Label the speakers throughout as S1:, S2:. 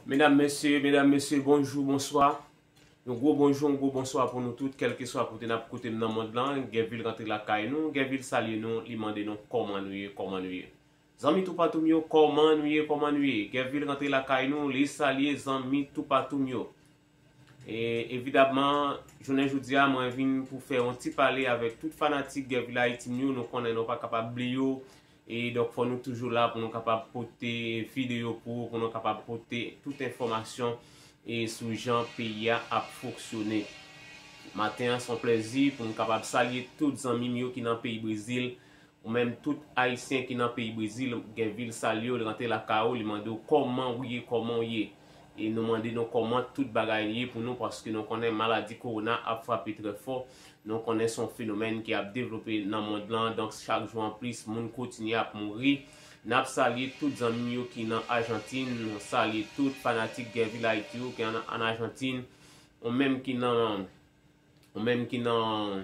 S1: Medam mesye, medam mesye, bonjou, bonswa. Yon gwo bonjou, yon gwo bonswa pou nou tout, kèlkeswa kote n ap koute m nan mond lan. Gèvil rantre lakay nou, Gèvil salye nou, li mande nou kòman nou ye, kòman nou ye. Zanmi toupatou m yo, kòman nou ye, kòman nou ye. Gèvil rantre lakay nou, li salye zanmi toupatou m yo. E evidabman, jounen jodi a mwen vin pou fè yon ti pale avèk tout fanatik Guerville-Haïti m yo, nou konnen nou pa kapab bliye yo, e donk fò nou toujou la pou nou kapab pote videyo pou ou, pou nou kapab pote tout enfòmasyon e sou jan peyi a ap foksyone. Maten an s on plèzi pou m kapab salye tout zanmi m yo ki nan peyi Brezil, Ou menm tout ayisyen ki nan peyi brezil gen vil sal yo li rantre lakay ou li mande ou kòman ou ye kòman ou ye e nou mande nou kòman tout bagay ye pou nou paske nou konnen maladi kowona ap frape trè fò nou konnen son fenomèn ki ap devlope nan mond lan donk chak jou an plis moun kotinye ap mouri nap salye tout zanmim yo ki nan ajantin nou salye tout fanatik guervilhaiti yo ki an ajantin ou menm ki nan ou menm ki nan.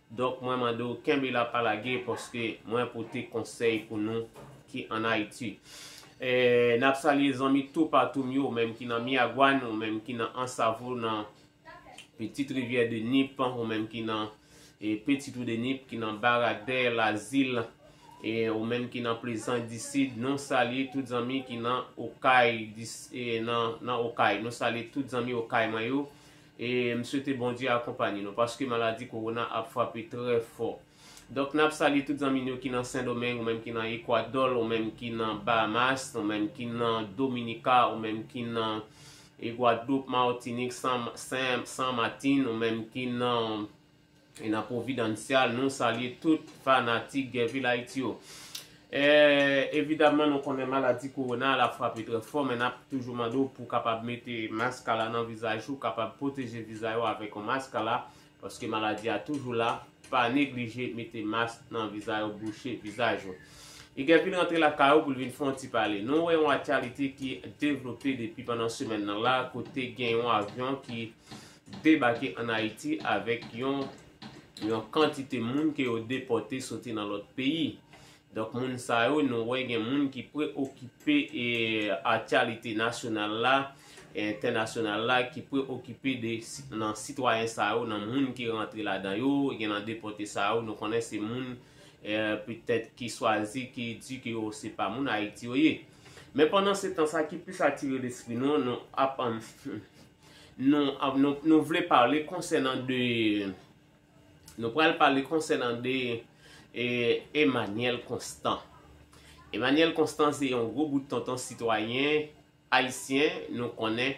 S1: Donk mwen mande w kenbe la pa lage paske mwen pote konsèy pou nou ki an Ayiti. N ap salye zanmi toupatou m yo, menm ki nan Myaguàn, ou menm ki nan Ansavo nan Petite Rivière de Nip, ou menm ki nan Petit Trou de Nip, ki nan Baradè, Lazil, ou menm ki nan Plezan di Sid. Nou salye tout zanmi ki nan Okay, nou salye tout zanmi Okay mwen yo. E m swete Bondye akonpanye nou paske maladi kowona ap frape trè fò. Donk nap salye tout zanmi n yo ki nan Sendomeng, ou menm ki nan Ekwadòl, ou menm ki nan Bahamas, ou menm ki nan Dominika, ou menm ki nan Gwadloup, Martinik, San Martin, ou menm ki nan. E nan Providancial nou salye tout fanatik Gèvil Ayiti yo. E evidaman nou konnen maladi kowona a la frape trè fò men nap toujou mande w pou kapab mete mask a la nan vizaj ou, kapab pwoteje vizay ou avèk yon mask a la paske maladi a toujou la, pa neglije mete mask nan vizay ou bouche vizaj ou. E Gèvil rantre lakay ou pou l vin fè yon ti pale. Nou wè yon atyalite ki devlope depi pandan semèn nan la kote gen yon avyon ki debake an Ayiti avèk yon yon kantite moun ke yo depòte soti nan lòt peyi. Donk moun sa yo nou wè gen moun ki preokipe e aktyalite nasyonal la e entènasyonal la ki preokipe de nan sitwayen sa yo nan moun ki rantre ladan yo gen nan depòte sa yo nou konnen se moun e petèt ki swazi ki di ke yo se pa moun Ayiti yo ye. Men pandan se tan sa ki plis atire lespri nou nou ap Nou vle pale konsènan de, nou pral pale konsènan de Emmanuel Constant. Emmanuel Constant se yon gwo bout tonton sitwayen ayisyen nou konnen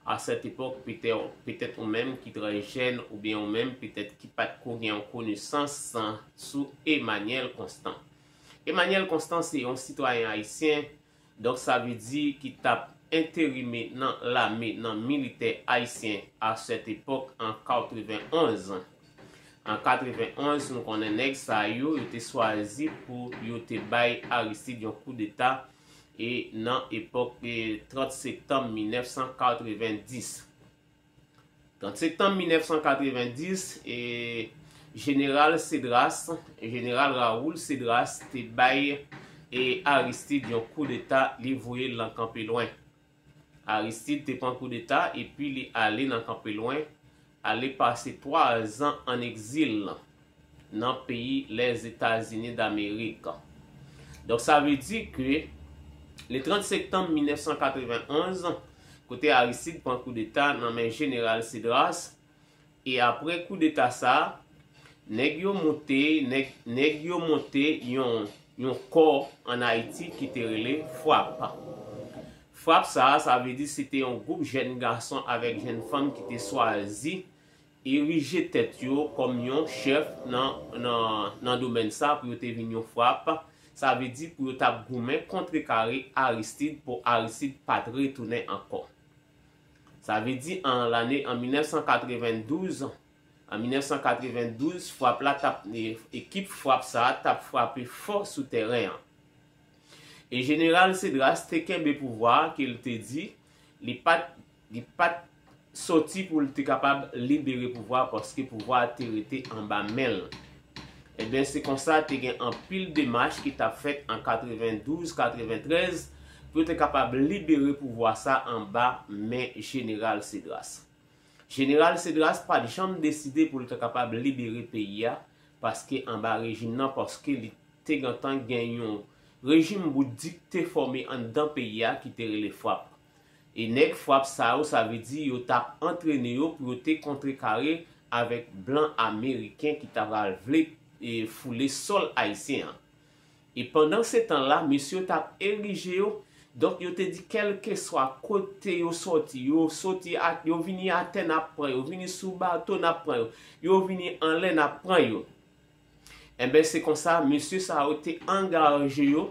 S1: a sèt epòk petèt ou menm ki trè jèn oubyen ou menm petèt ki pat ko gen yon konesans sou Emmanuel Constant. Emmanuel Constant se yon sitwayen ayisyen Donk sa vle di ki tap enterime nan lame nan militè ayisyen a sèt epòk an 91. An 91 nou konnen nèg sa yo, yo te swazi pou yo te bay Aristide yon koudeta e nan epòk 30 septanm 1990. 30 septanm 1990, Jeneral Cedras, Jeneral Raoul Cedras, te bay Aristide yon koudeta, li voye l nan Kanpelwen. Aristide te pran koudeta epi li ale nan Kanpelwen, ale pase 3 zan an egzil. nan peyi Lèzetazini Damerik. Donk sa vle di ke le 30 sektanm 1991, kote Aristide pran koudeta nan men Jeneral Cedras, e apre koudeta sa, nèg yo monte, nèg yo monte yon, yon kò an Ayiti ki te rele FRAPP. FRAPP sa, sa vle di se te yon gwoup jèn gason avèk jèn fanm ki te swazi, erije tèt yo kòm yon chèf nan domèn sa pou yo te vin yon frap, sa vle di pou yo t ap goumen kontrekare Aristid pou Aristid pa t retounen ankò. Sa vle di an lane an 1992, an 1992 frap la t ap, ekip frap sa a t ap frape fò sou tèren an. E jeneral Cedras te kenbe pouvwa a ke l te di li pa t Li pa t sòti pou l te kapab libere pouvwa a paske pouvwa a te rete anba men l. Enben, se konsa te gen anpil demach ki t ap fèt an 92, 93 pou yo te kapab libere pouvwa sa anba men Jeneral Cedras. Jeneral Cedras pa t janm deside pou l ta kapab libere peyi a paske anba rejim nan paske li te gentan gen yon rejim bout dikte fòme anndan peyi a ki te rele FRAPP. E nèg fwap sa yo sa vle di yo tap antrene yo pou yo te kontrekare avèk blan ameriken ki ta pral vle foule sòl ayisyen an. E pandan se tan la mesye yo tap erije yo, donk yo te di kèlkeswa kote yo sòti, yo soti a, yo vini atè nap pran yo, vini sou bato nap pran yo, yo vini anlè nap pran yo. Enben se konsa mesye sa yo te angaje yo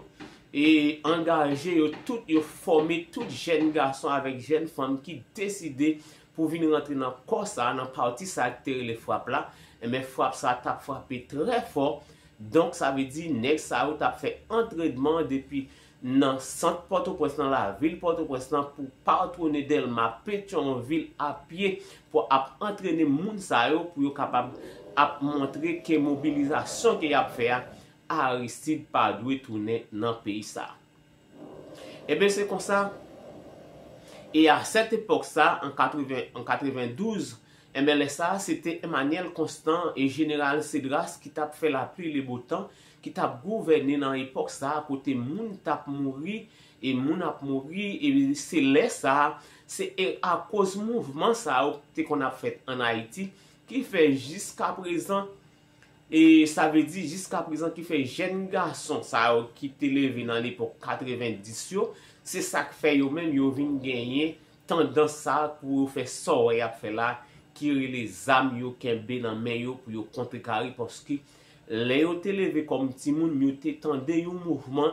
S1: e angaje yo tout yo fòme tout jèn gason avèk jèn fanm ki deside pou vin rantre nan kò sa nan pati sa ki te rele frap la enben frap sa tap frape trè fò donk sa vle di nèg sa yo tap fè antredman depi nan sant Pòtoprens nan lavil Pòtoprens lan pou patwone Dèlma Petyonvil a pye pou ap antrene moun sa yo pou yo kapab ap montre ke mobilizasyon ke y ap fè a Aristide pa dwe tounen nan peyi sa a. Eben se konsa e a sèt epòk sa a an 80 an 92 enben lè sa a se te Emanyèl Konstan e Jeneral Sedras ki t ap fè lapli lebotan ki t ap gouvène nan epòk sa a kote moun t ap mouri e moun ap mouri e se lè sa a se akoz mouvman sa yo ki te konn ap fèt ann Ayiti ki fè jiskaprezan e sa vle di jiskaprezan ki fè jèn gason sa yo ki te leve nan lepòk 90 yo se sa k fè yo menm yo vin genyen tandans sa a pou yo fè sa w wè y ap fè la a ki rele zam yo kenbe nan men yo pou yo kontrekare paske Lè yo te leve kòm timoun, yo te tande yon mouvman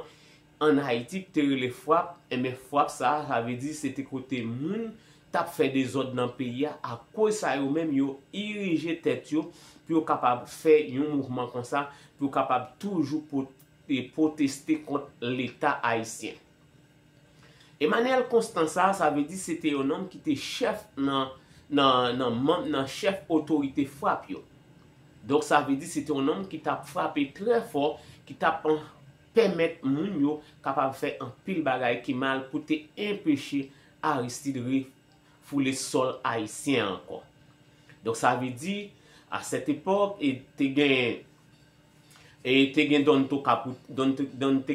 S1: ann Ayiti ki te rele fwap, enben fwap sa a, sa vle di se te kote moun t ap fè dezòd nan peyi a, akoz sa yo menm yo irije tèt yo pou yo kapab fè yon mouvman konsa, pou yo kapab toujou pwoteste kont Leta ayisyen. Emmanuel Constant sa a, sa vle di se te yon nonm ki te chèf nan nan manm nan chèf otorite frap yo. Donk sa vle di se te yon nonm ki t ap frape trè fò, ki t ap pèmèt moun yo kapab fè anpil bagay ki mal pou te enpeche Aristide refoule sòl ayisyen an ankò. Donk sa vle di a sèt epòk e te gen. E te gen Don Te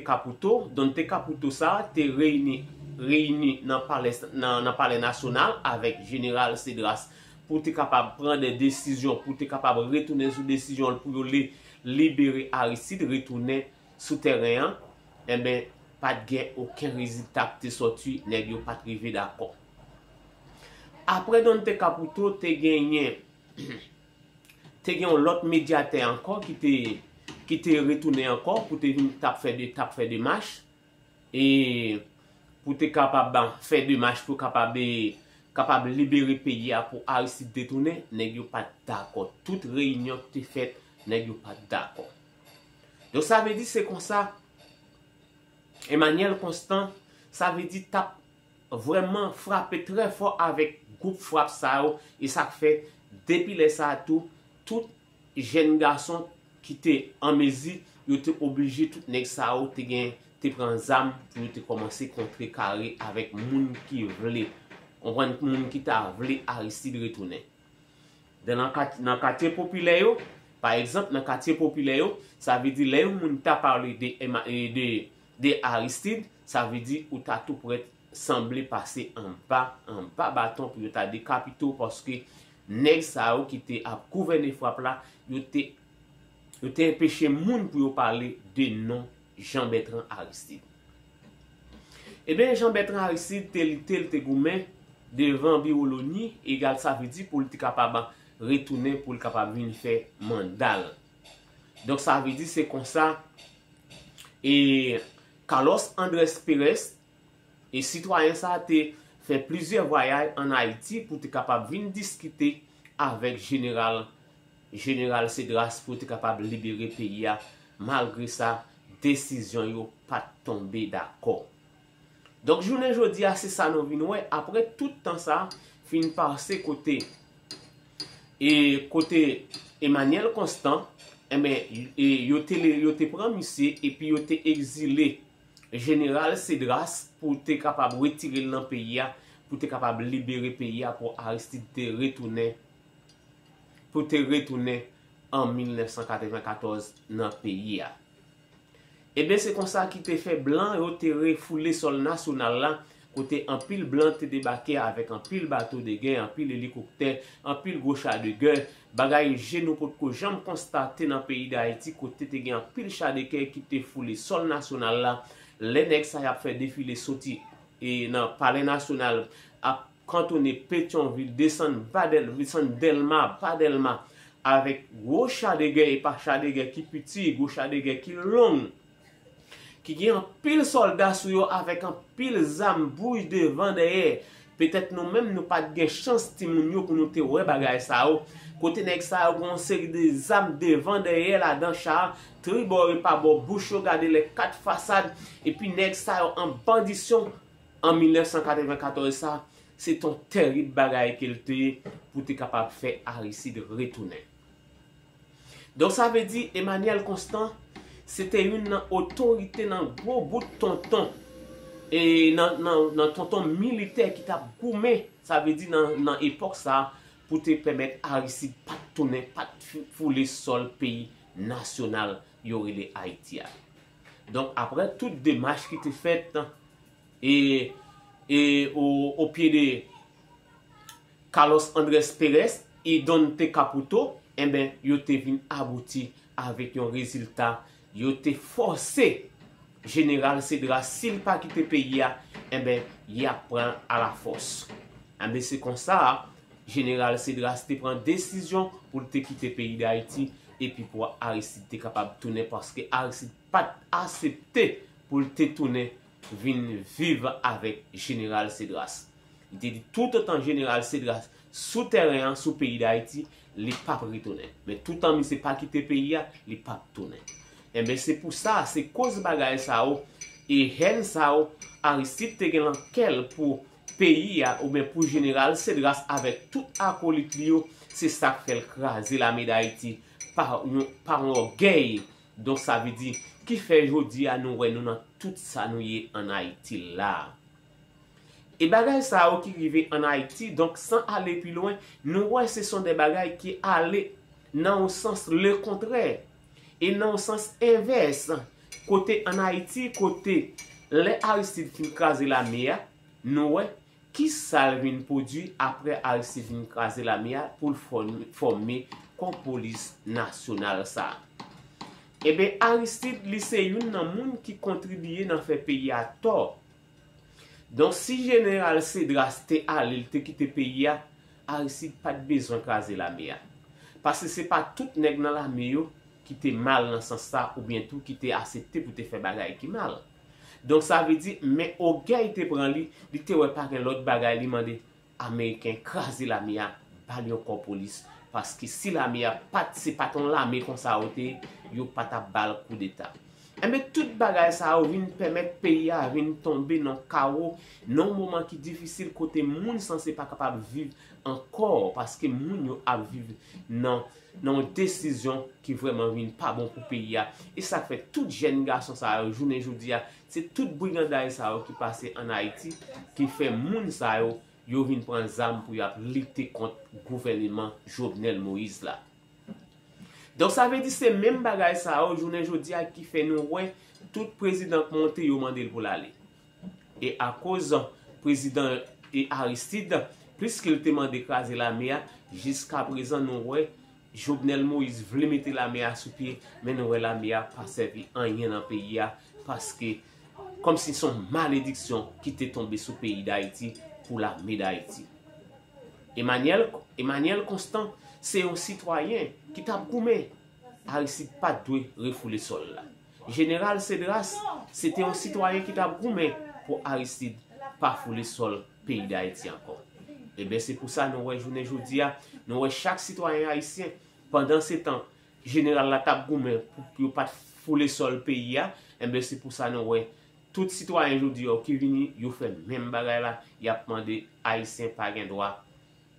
S1: Caputo. Don Te Caputo sa a te reyini nan palè nasyonal avèk jeneral Cedras pou te kapab pran de desizyon, pou te kapab retounen sou desizyon l pou yo libere Aristide, retounen sou tèren an. Enben, pa t gen oken rezilta ki te soti, nèg yo pa t rive dakò. Apre Don Te Caputo, te genyen Te gen yon lòt medyatè ankò ki te ki te retounen ankò pou te vin tap fè de tap fè demach e pou te kapab fè demach pou kapab e kapab libere peyi a pou Aristide te tounen, nèg yo pat dakò. Tout reyinyon ki te fèt, nèg yo pat dakò. Donk sa vle di se konsa Emmanuel Constant sa vle di tap vrèman frape trè fò avèk gwoup frap sa yo e sa k fè depi lè sa a tou tout jèn gason ki te an mezi yo te oblije tout nèg sa yo te gen te pran zam pou yo te kòmanse kontre kare avèk moun ki vle konprann moun ki ta vle Aristide retounen de nan katye nan katye popilè yo pa egzanp nan katye popilè yo sa vle di lè yon moun ta pale de MA de De Aristide, sa vle di ou ta tou prèt sanble pase anba anba baton pou yo ta dekapite w paske nèg sa yo ki te ap gouvène frap la, yo te yo te enpeche moun pou yo pale de non Jean Bertrand Aristide. Eben Jean Bertrand Aristide te lite, l te goumen devan biwo loni egal sa vle di pou l te kapab retounen pou l kapab vin fè manda l. Donk sa vle di se konsa e Carlos Andres Perez e sitwayen sa te fè plizyè vwayay an Ayiti pou te kapab vin diskite avèk jeneral jeneral Cedras pou yo te kapab libere peyi a malgre sa desizyon yo pat tonbe dakò. Donk jounen jodi a se sa nou vin wè apre tout tan sa fin pase kote e kote Emmanuel Constant enben e yo te le yo te pran misye epi yo te egzile jeneral Cedras pou te kapab retire l nan peyi a pou te kapab libere peyi a pou Aristide te retounen pou te retounen an 1994 nan peyi a. Eben se konsa ki te fè blan yo te refoule sòl nasyonal la, kote anpil blan te debake avèk anpil bato de gè, anpil elikoktè, anpil gwo cha de gè, bagay je nou pot ko janm konstate nan peyi Dayiti kote te gen anpil cha de kè ki te foule sòl nasyonal la, lè nèg sa y ap fè defile soti nan palè nasyonal ap. Kantonne Petyonvil, desann pa Dèlma, desann Dèlma pa Dèlma, avèk gwo cha de gè e pa cha de gè ki piti, gwo cha de gè ki long, ki gen anpil sòlda sou yo avèk anpil zam bouj devan dèyè, petèt nou menm nou pa t gen chans ti moun yo pou nou te wè bagay sa yo, kote nèg sa yo gen yon seri de zam devan dèyè ladan cha a, tribò e pa bò bouch yo gade lè kat fasad, epi nèg sa yo an bandisyon An 1994 sa, se t on tèrib bagay ke l te ye pou te kapab fè Aristide retounen. Donk sa vle di Emmanuel Constant se te youn nan otorite nan gwo bout tonton e nan tonton militè ki t ap goumen sa vle di nan epòk sa pou te pèmèt Aristide pa t tounen, pa t foule sòl peyi nasyonal yo rele Ayiti a. Donk aprè tout demach ki te fèt e e o o pye de Carlos Andres Perez y Donte Caputo enben yo te vin abouti avèk yon rezilta yo te fòse Jeneral Cedras si li pa kite peyi a enben y ap pran a la fòs. Enben se konsa Jeneral Cedras te pran desizyon pou l te kite peyi Dayiti epi pou Aristide te kapab tounen paske Aristide pa t asepte pou l te tounen vin viv avèk Jeneral Cedras. Li te di toutotan Jeneral Cedras sou tèren an, sou peyi Dayiti, li pap retounen. Men toutan misye pa kite peyi a, li pap tounen. Enben se pou sa, se koz bagay sa yo e hèn sa yo Aristide te gen lan kè l pou peyi a oubyen pou jeneral Cedras avèk tout akolit li yo se sak fè l kraze lame dayiti pa yon pa yon ògèy donk sa vle di ki fè jodi a nou wè nou nan tout sa nou ye an ayiti la e bagay sa yo ki rive an ayiti donk san ale pi lwen nou wè se son de bagay ki ale nan yon sans lekontrè. E nan yon sans envès, kote an Ayiti, kote lè Aristide fin kraze lame a, nou wè, ki sa l vin pwodui apre Aristide fin kraze lame a pou l fòme kò polis nasyonal sa a? Eben Aristide li se youn nan moun ki kontribiye nan fè peyi a tò Donk si jeneral Cedras te ale li te kite peyi a, Aristide pa t bezwen kraze lame a. Pase se pa tout nèg nan lame yo ki te mal nan sans sa oubyen tou ki te asepte pou te fè bagay ki mal. Donk sa vle di men ogèy te pran li, li te wè pa gen lòt bagay li mande Ameriken kraze lame a bal yon kò polis paske si lame a pat se pat yon lame konsa yo te yo patap bal koudeta enben tout bagay sa yo vin pèmèt peyi a vin tonbe nan kawo nan yon moman ki difisil kote moun sanse pa kapab viv ankò paske moun yo ap viv nan nan yon desizyon ki vrèman vin pa bon pou peyi a esak fè tout jèn gason sa yo jounen jodi a Se tout briganday sa yo ki pase an Ayiti ki fè moun sa yo yo vin pran zam pou y ap lite kont gouvèneman Jovenel Moïse la. Donk sa vle di se menm bagay sa yo jounen jodi a ki fè nou wè tout prezidan k monte yo mande l pou l ale. E akoz prezidan Aristide plis ke l te mande kraze lame a jiska prezan nou wè Jovenel Moïse vle mete lame a sou pye men nou wè lame a pa sèvi anyen nan peyi a paske kòm si son malediksyon ki te tonbe sou peyi dayiti pou lame dayiti. Emanyèl Emanyèl Konstan se yon sitwayen ki tap goumen Aristide pat dwe refoule sòl la. Jeneral Cedras se te yon sitwayen ki t ap goumen pou Aristide pa foule sòl peyi Dayiti ankò. Enben se pou sa nou wè jounen jodi a, nou wè chak sitwayen ayisyen, pandan se tan jeneral la t ap goumen pou yo pa t foule sòl peyi a, enben se pou sa nou wè tout sitwayen jodi yo ki vini yo fè menm bagay la, y ap mande Ayisyen pa gen dwa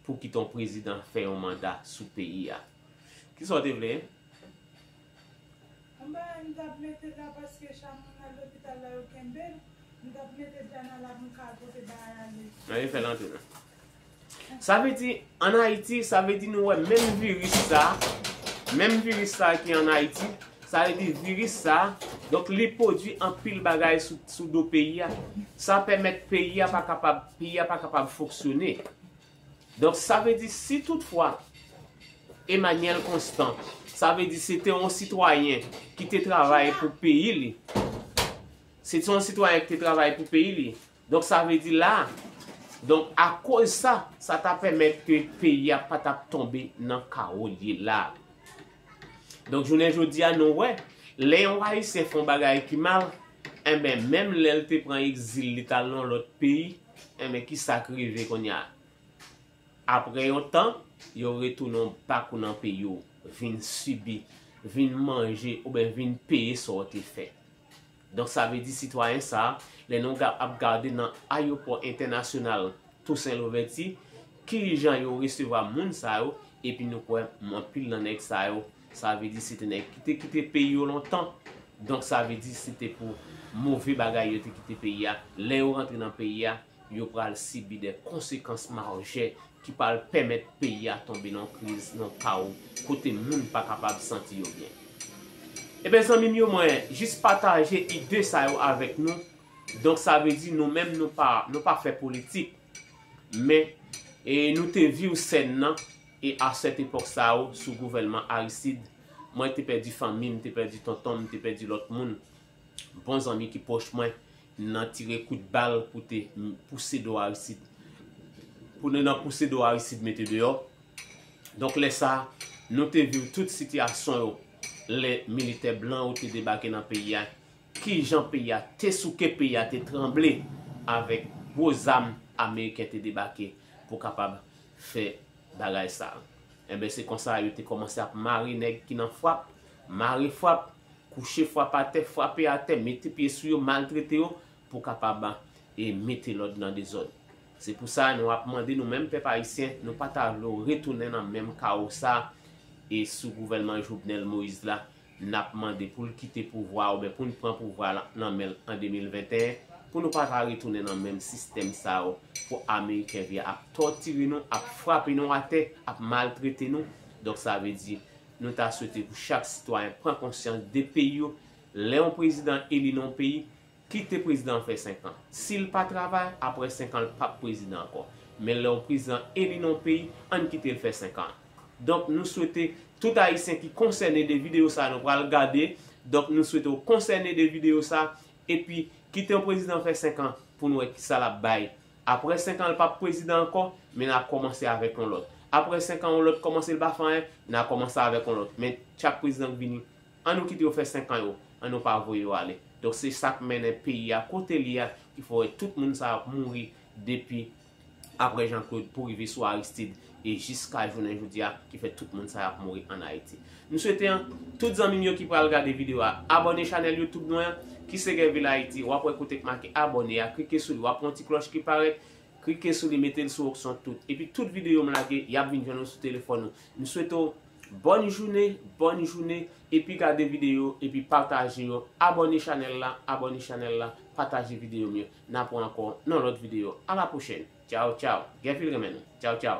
S1: pou kite yon prezidan fè yon manda sou peyi a. Ki sa w te vle? Anba a m tap mete dra paske cha moun nan lopital la yo kenbel, m tap mete dra nan la pou m ka pote bagay ale. Anyen fèl antre nan. Sa vle di an Haiti, sa vle di nou wè menm virus sa, menm virus sa ki an Haiti, sa vle di virus sa, donk li pwodwi anpil bagay sou do peyi a, sa pèmèt peyi a pa kapab, peyi a pa kapab fonksyone. Donk sa vle di si tout fwa Emanyèl Konstan sa vle di se te yon sitwayen ki te travay pou peyi li, se te yon sitwayen ki te travay pou peyi li, donk sa vle di la, donk akoz sa, sa ta pèmèt ke peyi a pa t ap tonbe nan kawo l ye la. Donk jounen jodi a nou wè, lè yon Ayisyen fè yon bagay ki mal, enben menm lè l te pran egzil li t al nan yon lòt peyi, Enben ki sa k rive kounye a? Apre yon tan, yo retounen back nan peyi w, vin sibi, vin manje oubyen vin peye sa w te fè. Donk sa vle di sitwayen sa, lè nou ap gade nan ayopò entènasyonal Tousen Louvèti, ki jan yo resevwa moun sa yo, epi nou kwè anpil nan nèg sa yo Sa vle di se te nèg ki te kite peyi yo lontan, donk sa vle di se te pou move bagay yo te kite peyi a, lè yo rantre nan peyi a, yo pral sibi dè konsekans majè ki pral pèmèt peyi a tonbe nan kriz, nan kawo, kote moun pa kapab santi yo byen. Eben zanmi m yo mwen jis pataje ide sa yo avèk nou, donk sa vle di nou menm nou pa, nou pa fè politik, men e nou te viw sèn nan, E a sèt epòk sa yo, sou gouvèlman Aristide, mwen te pèdi fanmi m, te pèdi tonton m, te pèdi lòt moun, bon zanmi ki pwòch mwen, nan tire kout bal pou te pouse do Aristide. Pou nou nan pouse do Aristide mete deyò. Donk lè sa, nou te viv tout sitiyasyon yo lè militè blan yo te debake nan peyi a, ki jan peyi a te souke, peyi a te tranble avèk gwo zam ameriken te debake pou kapab fè bagay sa. Enben se konsa yo te kòmanse ap mare nèg ki nan fwap, mare fwap, kouche fwap atè, fwape atè, mete pye sou yo, maltrete yo pou kapab e mete lòd nan dezòd. Se pou sa nou ap mande nou menm pèp ayisyen, nou pa ta vle w retounen nan menm kawo sa e sou gouvèlman Jovenel Moïse la n ap mande pou l kite pouvwa a oubyen pou n pran pouvwa a nan men l an 2021 pou nou pa ta retounen nan menm sistèm sa yo pou ameriken vye ap tòtire nou ap frape nou atè ap maltrete nou donk sa vle di nou ta swete pou chak sitwayen pran konsyans de peyi yo lè yon prezidan eli nan yon peyi Kite prezidan an fè 5 an. Sil pa travay, aprè 5 an l pap prezidan ankò. Men lè yon prezidan eli nan yon peyi, ann kite l fè 5 an. Donk nou swete tout ayisyen ki konsène de videyo sa nou pral gade, donk nou swete w konsène de videyo sa, epi kite yon prezidan fè 5 an pou n wè kisa l ap bay. Aprè 5 an l pap prezidan ankò, men n a kòmanse avèk yon lòt. Aprè 5 an yon lòt kòmanse l pa fè anyen, n a kòmanse avèk yon lòt. Men chak prezidan k vini, An nou kite yo fè 5 ans yo, an nou pa voye yo ale. Donk se sak mennen peyi a kote li a ki fè wè tout moun sa yo ap mouri depi aprè Jean Claude pou rive sou Aristide e jiska jounen jodi a ki fè tout moun sa yo ap mouri an Ayiti. M swete tout zanmi m yo ki pral gade video a abòne chanèl YouTube mwen an ki se Guervil Haïti wap wè kote k make abòne a klike sou li wap wè yon ti klòch ki parèt klike sou li mete l sou okson tout epi tout video m lage yap vin jwenn ou sou telefòn ou. M swete w Bòn joune bòn joune epi gade video epi pataje yo abòne chanèl la abòne chanèl la pataje video m yo na pran ankò nan lòt video a la pwochèn tchaw tchaw Guerfil renmen nou tchaw tchaw.